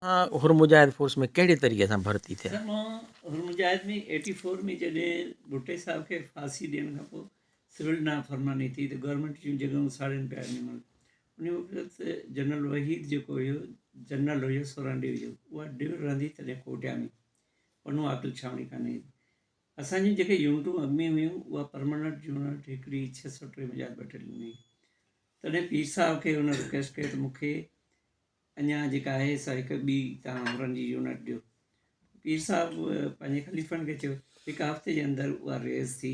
Hur Mujahid force ۾ ڪهڙي طريقي سان ڀرتي ٿيا؟ سر مان حر مجاهد ۾ ايٽي فور ۾ جڏهن ڀٽي صاحب کي ڦاسي ڏيڻ کان پوء سول نافرماني ٿي ته گورنمينٽ جون جڳهيون ساڙين پيا وڃن ان وقت جنرل وحيد جيڪو هيو جنرل هيو سورهن ڊوي جو اها ڊوي رهندي تڏهن ڪوٽيا ۾ پنو عاقل ڇانوڻي ڪانه هئي اسان جون جيڪي يونٽون اڳ ۾ هيون اها پرماننٽ يونٽ هڪڙي ڇهه سؤ ٽي مجاهد بٽلين ۾ تڏهن پير صاحب کي هن رڪويسٽ ڪئي ته مون کي اڃان جيڪا آهي سا هڪ ٻي توهان هورن جي يونٽ ڏيو پير صاحب پنهنجي خليفن کي چيو هڪ هفتي جي اندر اها ريز ٿي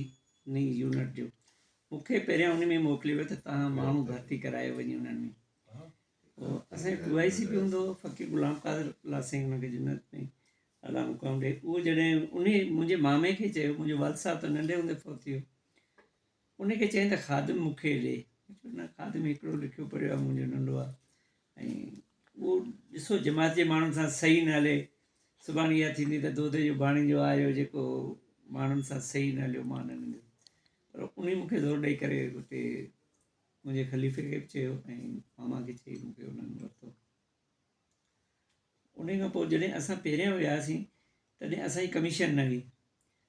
نئي يونٽ ڏيو مون کي پهريان ان ۾ موڪليو ته توهان ماڻهو ڀرتي ڪرايو وڃي انهن ۾ اسان پي آء سي پي هوندو فقير غلام قادر الله سائين هن کي جنت ۾ اعليٰ مقام ڏئي اهو جڏهن ان منهنجي مامي کي چيو منهنجو والد صاحب ته ننڍي هوندي فوت ٿي ويو ان کي چيائين ته خادم مون کي ڏي نه خادم هڪڙو لکيو پڙهيو آهي منهنجو ننڍو آهي ۽ اهو ڏسو جماعت جي ماڻهن سان صحيح نه هلي سڀاڻي اها ٿيندي ته دودي جو ڀاڻيجو آيو جيڪو ماڻهن سان صحيح نه هليو مان نه ننديس پر انهي مون کي زور ڏيئي ڪري اتي منهنجي خليفي کي به چيو ۽ ماما کي چي مون کي انهن ورتو انهي کان پوء جڏهن اسان پهريان وياسين تڏهن اسانجي ڪميشن نه هئي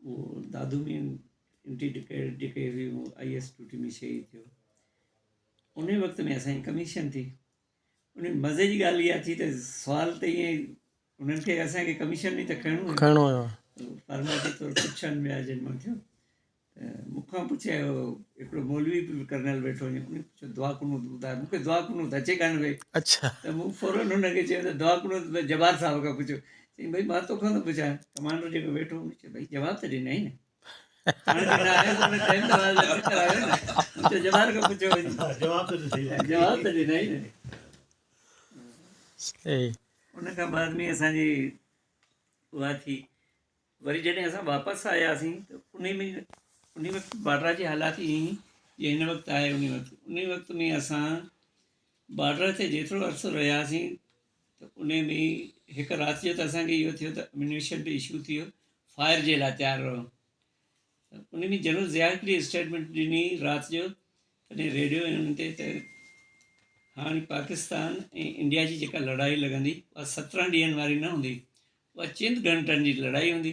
اهو دادو مين انٽي ڊڪير ڊڪي هي هو آئي ايس ٽوٽي مين شهيد ٿيو ان وقت ۾ اسان جي ڪميشن ٿي ان مزي جي ڳالهه اها ٿي ته سوال ته ائين انهن کي اسانکي ڪميشن ۾ ته کڻو کڻو هيو فرمائشي طور پڇن ويا جن مان ٿيو مون کان پڇي هڪڙو مولوي به ڪرنل ويٺو هو ان پڇيو دعا قنوت ٻڌاء مون کي دعا قنوت اچي ڪانه وئي اچھا ته مون فورن هن کي چيو ته دعا قنوت جبار صاحب کان پڇو چيائين ڀئي مان توکان ٿو پڇان ڪمانڊر جيڪو ويٺو هو چيو ڀئي جواب ته ڏنائين نه ان کان بعد ۾ اسانجي اها ٿي وري جڏهن اسان واپس آياسين ته ان ۾ ان وقت بارڊر جي حالات ائين هئي جيئن هن وقت آهي ان وقت ان وقت ۾ اسان بارڊر تي جيترو عرصو رهياسين ته ان ۾ هڪ رات جو ته اسان کي اهو ٿيو ته اميونيشن به اشو ٿي ويو فائر جي لاء تيار رهو ته ان ۾ جنرل ضياء هڪڙي اسٽيٽمنٽ ڏني رات جو تڏهن ريڊيو انهن تي ته هاڻي پاڪستان ۽ انڊيا جي جيڪا لڙائي لڳندي اها سترهن ڏينهن واري نه هوندي اها چند گهنٽن جي لڙائي هوندي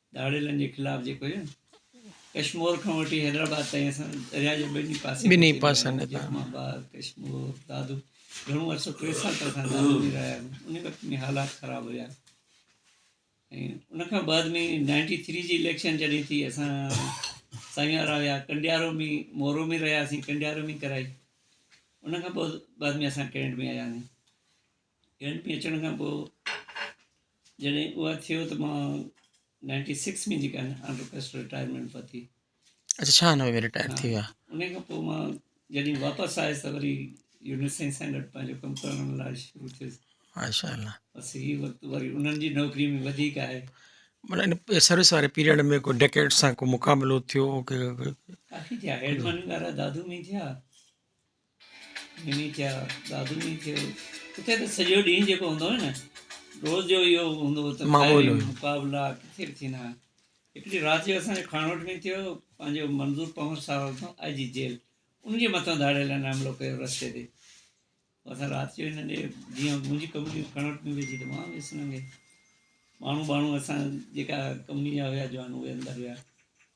ڌاڙيلن جي خلاف جيڪو هي ڪشمور کان وٺي حيدرآباد تائين اسان درياء جي ٻنهي پاسي ٻنهي پاسن تان اسلام آباد ڪشمور دادو گهڻو عرصو ٽي سال ته اسان دادو ۾ رهيا آهيون ان وقت ۾ حالات خراب هيا ۽ ان کان بعد ۾ نائنٽي ٿري جي اليڪشن جڏهن ٿي اسان سائين وارا ويا ڪنڊيارو ۾ مورو ۾ رهياسين ڪنڊيارو ۾ ڪرائي ان کان بعد ۾ اسان ڪينٽ ۾ آياسين يونٽ ۾ اچڻ کان پوء جڏهن اها ٿيو ته مان نائنٽي سڪس ۾ جيڪا آنڊر ڪسٽ رٽائرمينٽ ورتي اچھا چھيانوي ۾ رٽائر ٿي ويا ان کان پوء مان جڏهن واپس آيس ته وري يونٽ سائنس سينٽر پنهنجو ڪم ڪرڻ لاء شروع ٿيس ماشاء الله بس هي وقت وري انهن جي نوڪري ۾ وڌيڪ آهي مطلب ان سروس واري پيريڊ ۾ ڪو ڊڪيٽ سان ڪو مقابلو ٿيو ڪافي ٿيا هيڊمن وارا دادو ۾ ٿيا مينهن ٿيا ڏاڌ مينهن ٿيو ڪٿي ته سڄو ڏينهن جيڪو هوندو هو نه روز جو اهو هوندو هو ته معمول هيو. مقابلا ڪٿي به ٿيندا هئا هڪڙي رات جو اسان جو کانوٽ ۾ ٿيو پنهنجو منظور پنهور صاحب اتان آء جي جيل ان جي مٿان ڌاڙي لاء ناملو ڪيو رستي تي اسان رات جو هن ڏي جيئن منهنجي ڪمري کانوٽ ۾ ويجهي ته مان ويس ننگي ماڻهو ٻاڻهو اسان جيڪا ڪمري جا هيا جوان اهي اندر ويا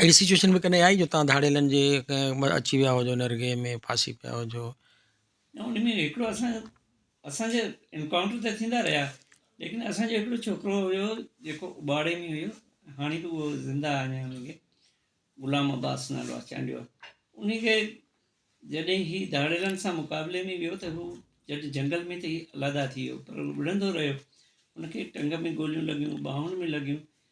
اهڙي سچوئيشن به ڪڏهن آئي جو توهان ڌاڙيلن جي اچي ويا هجو نرگهي ۾ ڦاسي پيا هجو؟ نه ان ۾ هڪڙو اسان اسان جا انڪائونٽر ته ٿيندا رهيا ليڪن اسان جو هڪڙو ڇوڪرو هيو جيڪو اٻاڙي ۾ هيو هاڻي به اهو زنده آهي اڃا ان کي غلام عباس نالو آهي چانڊيو ان کي جڏهن هي ڌاڙيلن سان مقابلي ۾ ويو ته هو جڏهن جنگل ۾ ته هي الادا ٿي ويو پر وڙهندو رهيو ان کي ٽنگ ۾ گوليون لڳيون ٻانهن ۾ لڳيون